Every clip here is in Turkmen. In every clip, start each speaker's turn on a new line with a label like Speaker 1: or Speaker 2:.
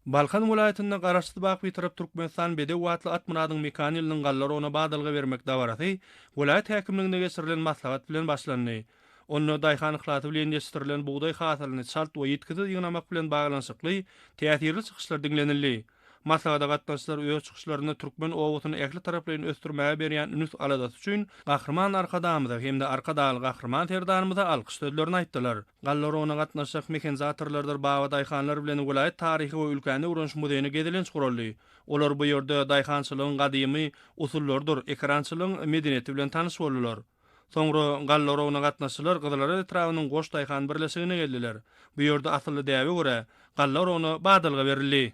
Speaker 1: Balkan welaýatynda Garaşsyz bagt Bitarap Türkmenistan bedew atly Atmyradyň mekan ýylynyň galla rogyna badalga bermek dabarasy welaýat häkimliginde geçirilen maslahat bilen başlandy. Onda daýhan yhlasy bilen ýetişdirilen bugdaý hasylyny çalt we ýitgisiz ýygnamak bilen baglanyşykly täsirli çykyşlar diňlenildi. Maslahata gatnaşyjylar öz çykyşlarynda türkmen obasyny ähli taraplaýyn ösdürmäge berýän ünüs-aladasy üçin Gahryman Arkadagymyza hem-de Arkadagly Gahryman Serdarymyza alkyş sözlerini aýtdylar. Gallar ona gatnaşjak mehenzatorlardyr baba daýhanlar bilen welaýat taryhy we ülkäni öwreniş muzeýine gezelenç guraldy. Olar bu ýerde daýhançylygyň gadymy usullarydyr ekerançylygyň medeniýeti bilen tanyş boldular. Soňra Gallarowna gatnaşyjylar Gyzylaraz etrabynyň Goş daýhan birleşigine geldiler. Bu ýerde asylly däbe görä, Gallarowna badalga berildi.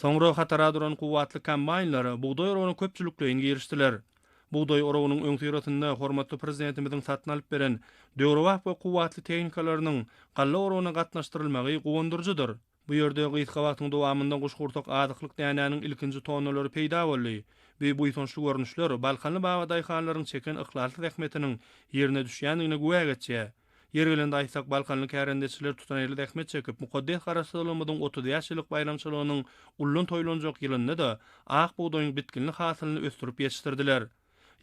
Speaker 1: Soňra hatara duran kuwwatly kombaýnlar bugdaý oragyna köpçülikleýin girişdiler. Bugdaý oragynyň öňüsyrasynda hormatly Prezidentimiziň satyn alyp beren döwrebap we kuwwatly tehnikalarynyň galla oragyna gatnaşdyrylmagy guwandyryjydyr. Bu ýerde gysga wagtyň dowamynda guşgursak azyklyk dänäniň ilkinji tonnalary peýda boldy. Bu buýsançly görnüşler balkanly baba daýhanlaryň çeken yhlasly zähmetiniň ýerine düşýändigine güwä geçýär. Ýeri gelende aýtsak, balkanly kärendeçiler tutanýerli zähmet çekip, mukaddes Garaşsyzlygymyzyň otuz bäş ýyllyk baýramçylygynyň ullan toýlanjak ýylynda-da ak bugdaýyň bitginli hasylyny ösdürip ýetişdirdiler.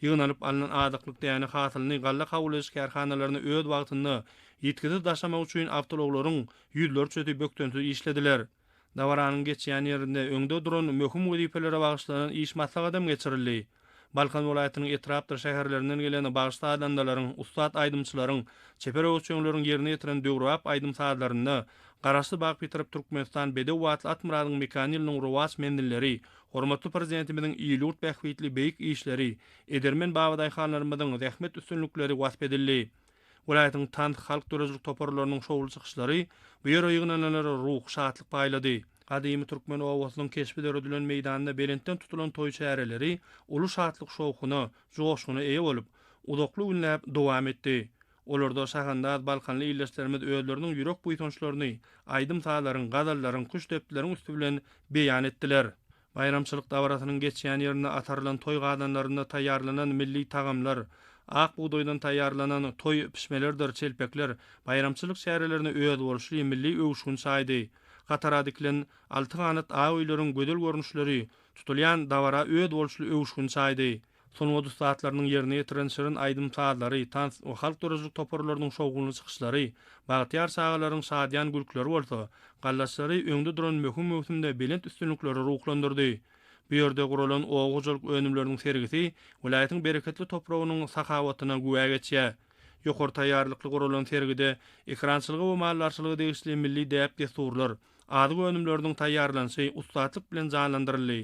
Speaker 1: Ýygnalyp alnan azyklyk däne hasylyny galla kabul ediş kärhanalaryna öz wagtynda ýitgisiz daşamak üçin awtoulaglaryň ýüzlerçesi bökdensiz işlediler. Dabaranyň geçýän ýerinde öňde duran möhüm wezipelere bagyşlanan iş maslahatam geçirildi. Balkan welaýatynyň etrapdyr şäherlerinden gelen bagyş-sazandalaryň, ussat aýdymçylaryň, çeper öwüşginleriň ýerine ýetiren döwrebap aýdym-sazlarynda Garaşsyz bagt bitarap Türkmenistan bedew atly Atmyradyň mekan ýylynyň rowaç menzilleri, hormatly Prezidentimiziň il-ýurt bähbitli beýik işleri, edermen babadaýhanlarymyzyň zähmet üstünlikleri wasp edildi. Welaýatyň tans, halk döredijilik toparlarynyň şowly çykyşlary bu ýere ýygnananlara ruhy şatlyk paýlady. Gadymy türkmen obasynyň keşbi döredilen meýdanda belentden tutulan toý çäreleri uly şatlyk-şowhuna, joşguna eýe bolup, uzakly günläp dowam etdi. Olarda şahandaz balkanly ildeşlerimiz özleriniň ýürek buýsançlaryny aýdym-sazlaryň, gazallaryň, küştdepdileriň üsti bilen beýan etdiler. Baýramçylyk dabarasynyň geçýän ýerinde atarylan toý gazanlarynda taýýarlanan milli tagamlar, ak bugdaýdan taýýarlanan toý pişmelerdir çelpekler baýramçylyk çärelerine özboluşly milli öwüşgin çaýdy. Gatara dikilen alty ganat ak öýleriň gözel görnüşleri tutulýan dabara özboluşly öwüşgin çaýdy. Sungat ussatlarynyň ýerine ýetiren şirin aýdym-sazlary, tans we halk döredijilik toparlarynyň şowhunly çykyşlary, bagtyýar çagalaryň şadyýan gülkileri bolsa, gallaçylary öňde duran möhüm möwsümde belent üstünliklere ruhlandyrdy. Bu ýerde guralan oba hojalyk önümleriniň sergisi welaýatyň bereketli topragynyň sahawatyna güwä geçýär. Ýokary taýýarlykly guralan sergide ekerançylyga we maldarçylyga degişli milli däp-dessurlar, azyk önümleriniň taýýarlanyşy ussatlyk bilen janlandyryldy.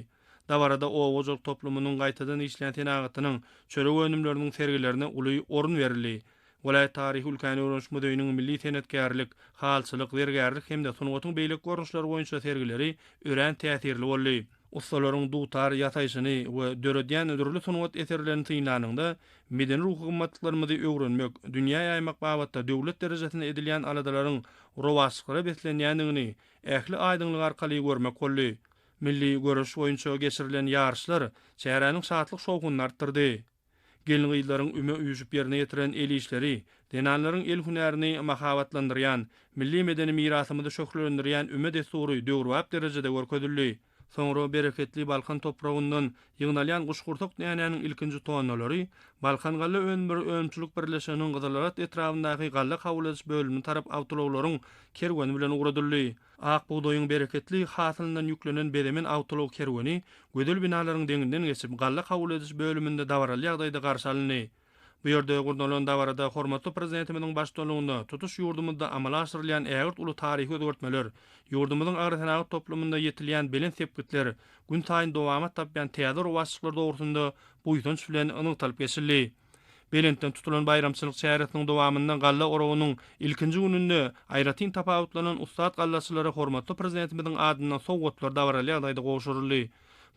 Speaker 1: Dabarada oba hojalyk toplumynyň gaýtadan işleýän senagatynyň, çörek önümleriniň sergilerine uly orun berildi. Welaýat taryhy-ülkäni öwreniş muzeýiniň milli senetkärlik, halçylyk, zergärlik hem-de sungatyň beýleki görnüşleri boýunça sergileri örän täsirli boldy. Ussalaryň dutar ýasaýşyny we döredýän dürli sungat eserlerini synlanyňda, medeni-ruhy gymmatlyklarymyzy öwrenmek, dünýä ýaýmak babatda döwlet derejesinde edilýän aladalaryň rowaçlyklara beslenýändigini ähli aýdyňlygy arkaly görmek boldy. Milli göreş boýunça geçirilen ýaryşlar çäräniň şatlyk-şowhunyny artdyrdy. Gelin-gyzlaryň üme üýşüp ýerine ýetiren el işleri, zenanlaryň el hünärini mahabatlandyrýan, milli medeni mirasymyzy şöhlelendirýän üme dessury döwrebap derejede görkezildi. Soňra bereketli Balkan topragyndan ýygnalýan guşgursak dänäniň ilkinji tonnalary Balkan galla önümleri önümçilik birleşiginiň Gyzylarat etrabyndaky galla kabul ediş bölümine tarap awtoulaglaryň kerweni bilen ugradyldy. Ak bugdaýyň bereketli hasylyndan ýüklenen bezemen awtoulag kerweni gözel binalaryň deňinden geçip, galla kabul ediş bölüminde dabaraly ýagdaýda garşy alyndy. Bu ýerde gurnalan dabarada hormatly Prezidentimiziň baştutanlygynda tutuş ýurdumyzda amala aşyrylýan ägirt uly taryhy özgertmeler, ýurdumyzyň agrosenagat toplumynda ýetilýän belent sepgitler, günsaýyn dowamat tapýan täze rowaçlyklar dogrusynda buýsanç bilen nygtalyp geçildi. Belentden tutulan baýramçylyk çäresiniň dowamynda galla oragynyň ilkinji gününde aýratyn tapawutlanan ussat gallaçylara hormatly Prezidentimiziň adyndan sowgatlar dabaraly ýagdaýda gowşuryldy.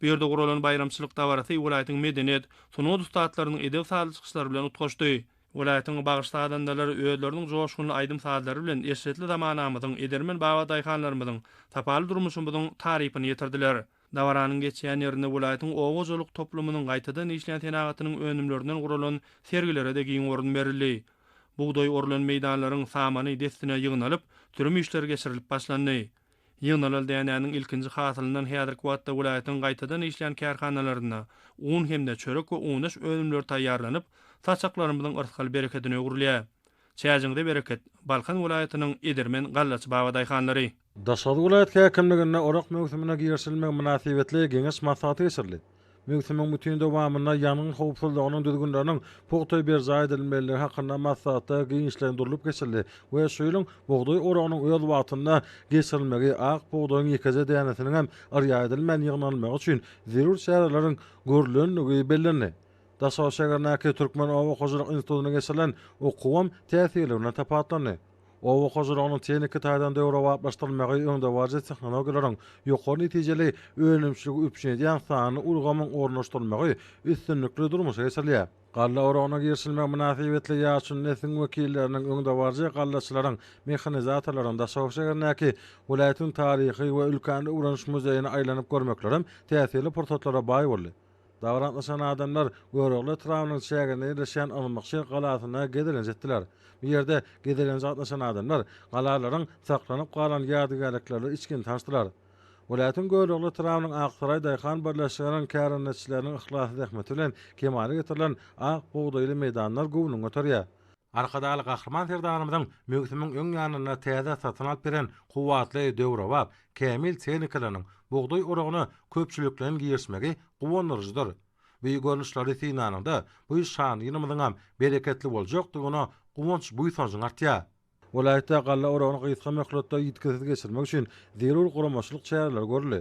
Speaker 1: Bu ýerde guralan baýramçylyk dabarasy welaýatyň medeniýet, sungat ussatlarynyň edep-sazly çykyşlary bilen utgaşdy. Welaýatyň bagşy-sazandalary özleriniň joşgunly aýdym-sazlary bilen eşretli zamanamyzyň, edermen babadaýhanlarymyzyň, sapaly durmuşymyzyň tarypyny ýetirdiler. Dabaranyň geçýän ýerinde welaýatyň oba hojalyk toplumynyň gaýtadan işleýän senagatynyň önümlerinden guralan sergilere-de giň orun berildi. Bugdaý orulan meýdanlaryň samany dessine ýygnalyp, sürüm işleri geçirilip başlandy. Ýygnalan dänäniň ilkinji hasylyndan häzirki wagtda welaýatyň gaýtadan işleýän kärhanalarynda un hem-de çörek we unaş önümleri taýýarlanyp, saçaklarymyzyň yrsgal berekedine öwrülýär. Çäjiňize bereket, Balkan welaýatynyň edermen gallaçy babadaýhanlary! Daşoguz welaýat
Speaker 2: häkimliginde orak möwsümine girişilmegi mynasybetli Geňeş maslahaty geçirildi. Möwsümiň bütin dowamynda ýangyn howpsuzlygynyň düzgünleriniň pugta berjaý edilmelidigi hakynda maslahatlar giňişleýin durlup geçildi we şu ýylyň bugdaý oragynyň öz wagtynda geçirilmegi, ak bugdaýyň ýekeje dänesiniň hem yrýa edilmän ýygnalmagy üçin zerur çäreleriň görlendigi bellendi. Daşoguz şägerindäki Türkmen oba hojalyk institutyna geçirilen okuwam täsirli bilen tapawutlandy. Oba hojalygynyň tehniki taýdan döwrebaplaşdyrylmagy öňdebaryjy tehnologiýalaryň ýokary netijeli önümçiligi üpjün edýän sanly ulgamyň ornaşdyrylmagy üstünlikli durmuşa geçirilýär. Galla oragyna girişilmegi mynasybetli ýaşuly nesliň wekilleriniň, öňdebaryjy gallaçylaryň, mehanizatorlaryň Daşoguz şäherindäki welaýatyň taryhy we ülkäni öwreniş muzeýine aýlanyp görmeklerem täsirli pursatlara baý boldy. Dabara gatnaşan adamlar Görogly etrabynyň çäginde ýerleşýän Ylmykşir galasyna gezelenje etdiler. Bu ýerde gezelenje gatnaşan adamlar galalaryň saklanyp galan ýadygärliklerli içgin tanyşdylar. Welaýatyň Görogly etrabynyň Aksaraý daýhan birleşiginiň kärendeçileriniň yhlasly zähmeti bilen kemala getirilen ak bugdaýly meýdanlar göwnüňi göterýär. Arkadagly Gahryman Serdarymyzyň möwsümiň öň ýanynda täze satyn alyp beren kuwwatly döwrebap, kämil tehnikasynyň bugdaý oragyna köpçülikleýin girişmegi guwandyryjydyr. Bu görnüşleri synanyňda, bu şanly ýylymyzyňam bereketli boljakdygyna guwanç-buýsanjyň artýar. Welaýatda galla oragyny gysga möhletde ýitgisiz geçirmek üçin zerur guramaçylyk çäreleri görüldi.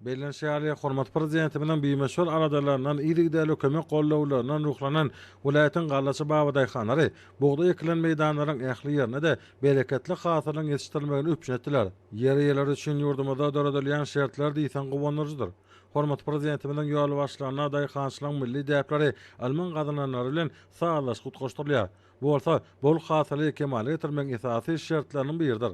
Speaker 2: Bellenişi ýaly, hormatly Prezidentimiziň bimeşgul aladalaryndan, yzygiderli kömek gollawlaryndan ruhlanan welaýatyň gallaçy babadaýhanlary bugdaý ekilen meýdanlaryň ähli ýerine-de bereketli hasylyň ýetişdirilmegini üpjün etdiler. Ýer eýeleri üçin ýurdumyzda döredilýän şertler diýseň guwandyryjydyr. Hormatly Prezidentimiziň ýolbaşçylygynda daýhançylygyň milli däpleri ylmyň gazananlary bilen sazlaşyp utgaşdyrylýar. Bu bolsa bol hasyly kemala getirmegiň esasy şertleriniň biridir.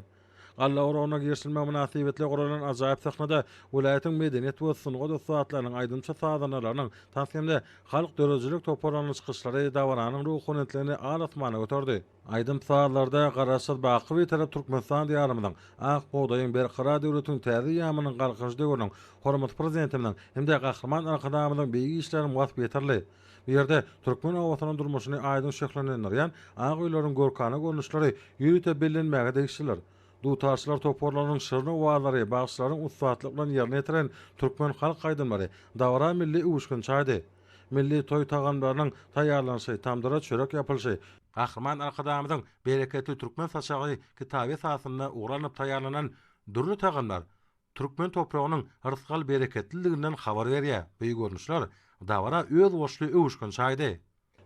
Speaker 2: Galla oragyna girişilmegi mynasybetli guralan ajaýyp sahnada welaýatyň medeniýet we sungat ussatlarynyň, aýdymçy-sazandalarynyň, tans hem-de halk döredijilik toparlarynyň çykyşlary dabaranyň ruhubelentligini al-asmana göterdi. Aýdym-sazlarda Garaşsyz, baky Bitarap Türkmenistan Diýarymyzyň, ak bugdaýyň, berkarar döwletiň täze ýamynyň Galkynyş döwrüniň Hormatly Prezidentimiziň hem-de Gahryman Arkadagymyzyň beýik işleriniň waspy ýetirildi. Bu ýerde türkmen obasynyň durmuşyny aýdyň şöhlelendirýän ak öýleriň görkana görnüşleri ýörite bellenmäge degişlidir. Dutarçylar toparlarynyň şirin owazlary, bagşylaryň ussatlyk bilen ýerine ýetiren türkmen halk aýdymlary dabara milli öwüşgin çaýdy. Milli toý tagamlarynyň taýýarlanyşy, tamdyra çörek ýapylyşy, Gahryman Arkadagymyzyň Bereketli türkmen saçagy kitaby esasynda ugur alnyp taýýarlanan dürli tagamlar türkmen topragynyň yrsgal-bereketliliginden habar berýär. Bu görnüşler dabara özboluşly öwüşgin çaýdy.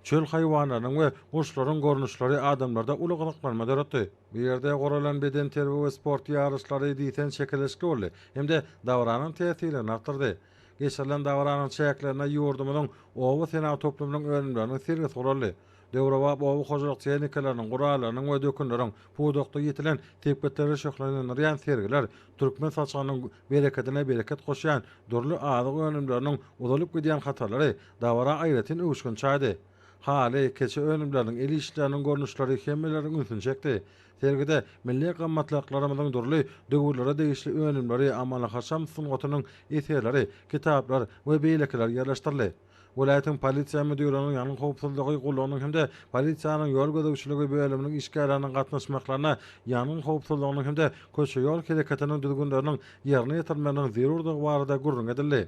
Speaker 2: Çöl haýwanlarynyň we guşlaryň görnüşleri adamlarda uly gyzyklanma döretdi. Bu ýerde guralan bedenterbiýe we sport ýaryşlary diýseň çekeleşikli boldy hem-de dabaranyň täsirligini artdyrdy. Geçirilen dabaranyň çäklerinde ýurdumyzyň oba senagat toplumynyň önümleriniň sergisi guraldy. döwrebap oba hojalyk tehnikalarynyň, gurallarynyň we dökünleriň pudakda ýetilen sepgitleri şöhlelendirýän sergiler türkmen saçagynyň berekedine bereket goşýan dürli azyk önümleriniň uzalyp gidýän hatarlary dabara aýratyn öwüşgin çaýdy. Haly, keçe önümleriniň el işleriniň görnüşleri hemmeleriň ünsüni çekdi. Sergide milli gymmatlyklarymyzyň dürli döwürlere degişli önümleri, amaly-haşam sungatynyň eserleri, kitaplar we beýlekiler ýerleşdirildi. welaýatyň Polisiýa müdirliginiň ýangyn howpsuzlygy gullugynyň hem-de polisiýanyň ýol gözegçiligi bölüminiň işgärleriniň gatnaşmaklaryna ýangyn howpsuzlygynyň hem-de köçe-ýol hereketiniň düzgünleriniň ýerine ýetirilmeginiň zerurdygy barada gürrüň edildi.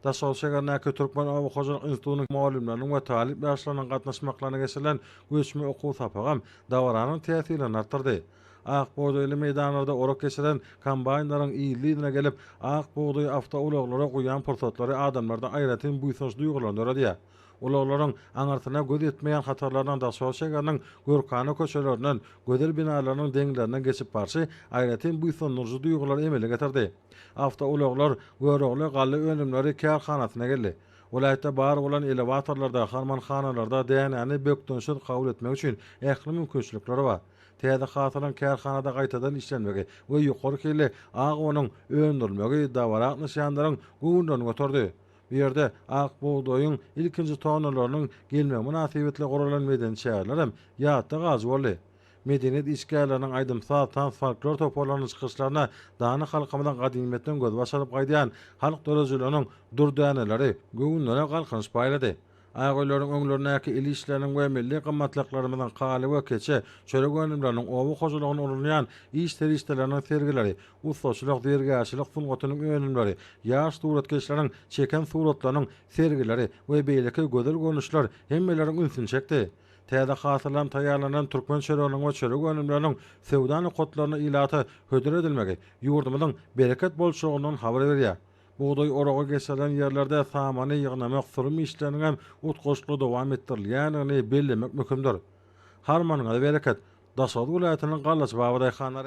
Speaker 2: Daşoguz şäherindäki Türkmen oba hojalyk institutynyň mugallymlarynyň we talyp ýaşlarynyň gatnaşmaklaryna geçirilen göçme okuw sapagam dabaranyň täsirini artdyrdy. Ak bugdaýly meýdanlarda orak geçiren kombaýnlaryň ýyl-ýylyna gelip, ak bugdaýy awtoulaglara guýan pursatlary adamlarda aýratyn buýsanç duýgularyny döredýär. Ulaglaryň aňyrsyna göz ýetmeýän hatarlarynyň Daşoguz şäheriniň görkana köçelerinden, gözel binalarynyň deňlerinden geçip barşy aýratyn buýsandyryjy duýgulary emele getirdi. Awtoulaglar Görogly galla önümleri kärhanasyna geldi. Welaýatda bar bolan elewatorlarda, harmanhanalarda dänäni bökdençsiz kabul etmek üçin ähli mümkinçilikler bar. Täze hasylyň kärhanada gaýtadan işlenmegi we ýokary hilli ak unuň öndürilmegi dabara gatnaşýanlaryň göwünlerini göterdi. Bu ýerde ak bugdaýyň ilkinji tonnalarynyň gelmegi mynasybetli guralan medeni çäreler hem ýatda galyjy boldy. Medeniýet işgärleriniň aýdym-saz, tans-folklor toparlarynyň çykyşlaryna dana halkymyzyň gadymyýetden gözbaş alyp gaýdýan halk döredijiliginiň dürdäneleri göwünlere galkynyş paýlady. Ak öýleriň öňlerindäki el işleriniň we milli gymmatlyklarymyzyň, haly we keçe, çörek önümleriniň, oba hojalygyna ulanylýan iş serişdeleriniň sergileri, ussaçylyk, zergärçilik sungatynyň önümleri, ýaş suratkeşleriň çeken suratlarynyň sergileri we beýleki gözel görnüşler hemmeleriň ünsüni çekdi. Täze hasyldan taýýarlanan türkmen çöreginiň we çörek önümleriniň söwda nokatlaryna ilata hödür edilmegi ýurdumyzyň bereket bolçulygyndan habar berýär. Bugdaý oragy geçirilen ýerlerde samany ýygnamak, sürüm işleriniň hem utgaşykly dowam etdirilýändigini bellemek möhümdir. Harmanyňyza bereket! Daşoguz welaýatynyň gallaçy babadaýhanlary.